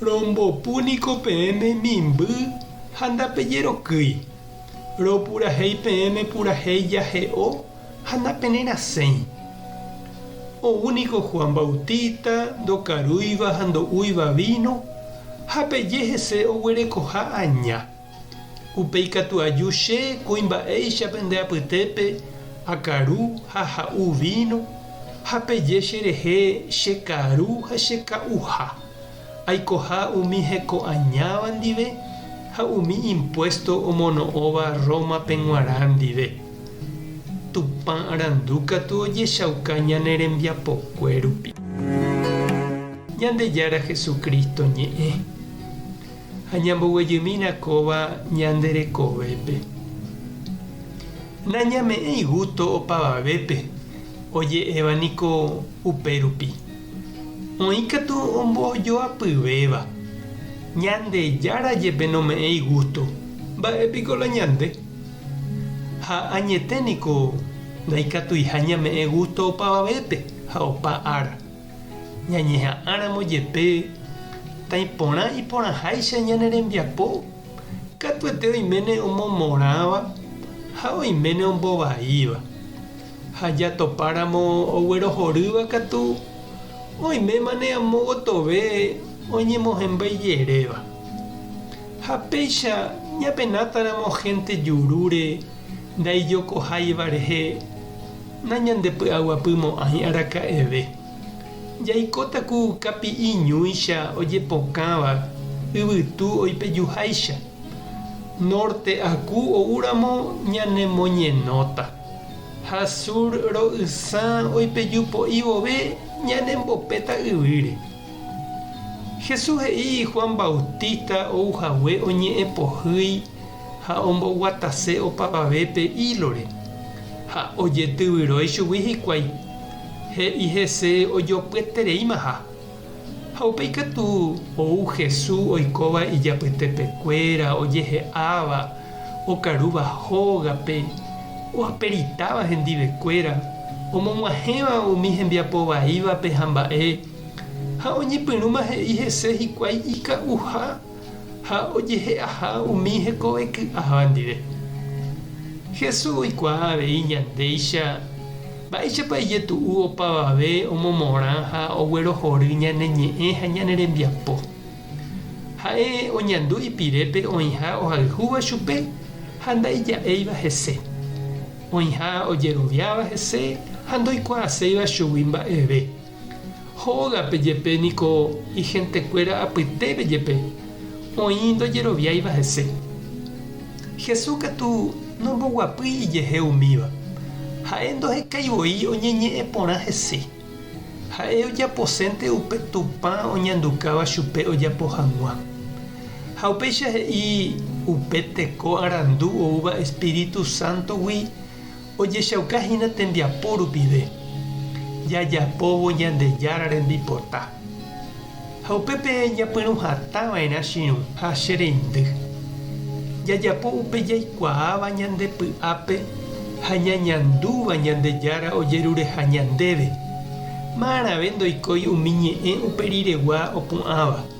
Rombopu niko peẽme mimby ha ndapejerokýi, ropurahéi peẽme purahéi jahe'o ha napererasẽi. Ou niko Juan Bautista ndokarúiva ha ndo'úiva víno, ha peje hese oguerekoha aña. Upéi katu aju che kuimba'éicha pende apytépe akaru ha ha'u víno, ha peje cherehe che karu ha che ka'uha. Aikoha umi heko añáva ndive ha umi impuésto omono'õva Rómape g̃uarã ndive. Tupã arandu katu ojechauka ñane rembiapokue rupi. Ñandejára Jesucristo ñe'ẽ. ha ñamboguejymína kóva ñande rekovépe. Nañame'ẽi gústo opavavépe, oje'éva niko upérupi. Oĩ katu ombojoapyvéva. Ñandejára jepe nome'ẽi gústo, mba'e piko la ñande? Ha añete niko ndaikatuiha ñame'ẽ gústo opavavépe ha opa ára. Ñañeha'ãramo jepe tãi porã iporãháicha ñane rembiapo, katuete oiméne omomorãva ha oiméne ombovaíva. Ha jatopáramo oguerohorýva katu, oimémane amo gotove oñemohẽmbái jeréva. Ha péicha ñapenátãramo hénte jurúre ndaijokoháiva rehe. Nañandepy'aguapymo'ãi araka'eve. Jaikóta ku kapi'i ñúicha ojepokãva yvytu oipejuháicha. Nórte aku oúramo ñanemoñenóta, ha súr ro'ysã oipeju po'i vove ñanembopéta yvýre. Jesús he'i Juan Bautista ou hague oñe'ẽpohýi ha omboguatase opavave pe ílore, ha ojetyvyrói chugui hikuái, he'i hese ojopyetereímaha. Ha upéi katu ou Hesu oikóva ijapytepekuéra ojehe'áva okarúva hógape, oaperitáva hendivekuéra, omog̃uahẽva umi hembiapo vaívape ha mba'e, ha oñepyrũma he'i hese hikuái ika'uha. ha ojehe'aha umi hekove ky'aháva ndive. Jesús oikuaa avei ñandéicha mba'éichapa ijetu'u opavave omomorã ha oguerohory ñane ñe'ẽ ha ñane rembiapo. Ha'e oñandu ipirépe oĩha ohayhúva chupe ha ndaija'éiva hese, oĩha ojeroviáva hese ha ndoikuaaséiva chugui mba'eve. Hógape jepe niko igentekuéra apytépe jepe oĩ ndojeroviáiva hese. Jesús katu nomboguapýi ijehe umíva. Ha'e ndohekái voi oñeñe'ẽ porã hese. Ha'e ojaposénte upe Tupã oñandukáva chupe ojapo hag̃ua. Ha upéicha he'i upe teko arandu oúva espíritu sántogui Ojechauka hína tembiapo rupive jajapóvo Ñandejára rembipota, ha upépe ñapyrũ hatã va'erã chiruha che reindy. Jajapo upe jaikuaáva ñande py'ápe ha ñañandúva Ñandejára ojerureha ñandéve, ma'arãve ndoikói umi ñe'ẽ upe riregua opu'ãva.